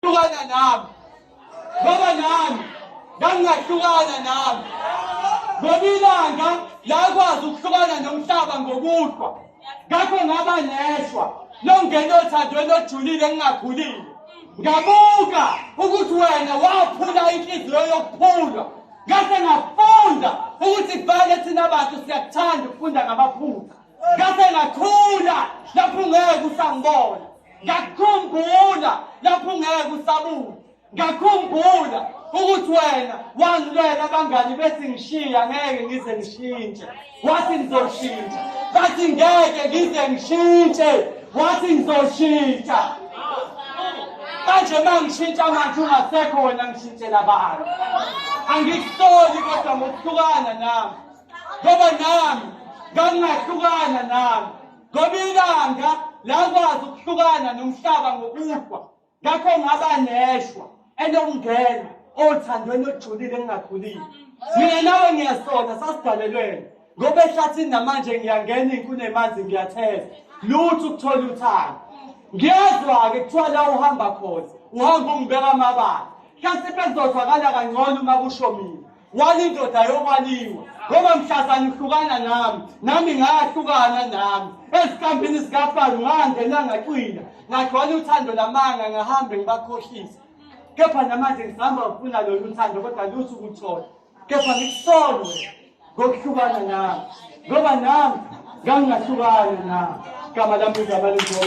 hlukana nami ngoba nami ngangingahlukana nami ngoba ilanga lakwazi ukuhlukana nomhlaba ngokuhlwa ngakho ngaba neshwa longena othandweni ojulile engingakhulile ngabuka ukuthi wena waphula inhliziyo yokuphulwa ngase ngafunda ukuthi vele thina bantu siyakuthanda ukufunda ngamaphutha ngase ngakhula lapho ungeke usangibona ngakukhumbula lapho ungeke usabuka ngakhumbula ukuthi wena wangilwela abangani bethi ngishiya ngeke ngize ngishintshe wathi ngizoshintsha bathi ngeke ngize ngishintshe wathi ngizoshintsha manje uma ngishintsha manje ungasekho wena ngishintshela abantu angikusoli kodwa ngokuhlukana nami ngoba nami ngangingahlukana nami ngoba ilanga lakwazi ukuhlukana nomhlaba ngokufa ngakho ngaba neshwa enokungena othandweni olujulile engingakhulile mina nawe ngiyasona sasidalelwena ngoba ehlathini namanje ngiyangena inkulu emanzi ngiyatheza lutho ukuthola uthando ngiyazwa-ke kuthiwa la uhamba khona uhamba ungibeka amabala hlase bekuzozwakala kangcono uma kusho mina walindoda yokwaliwa ngoba mhlazana uhlukana nami nami ngahlukana nami ezikambini zikafaro ngangena ngacwila ngagcwala uthando lamanga ngahambe ngibakhohlisa kepha namanje ngisihamba ngifuna lolu thando kodwa luthi ukuthola kepha ngikusolo ngokuhlukana nami ngoba nami ngangingahlukani nami igama lami igama lenziwa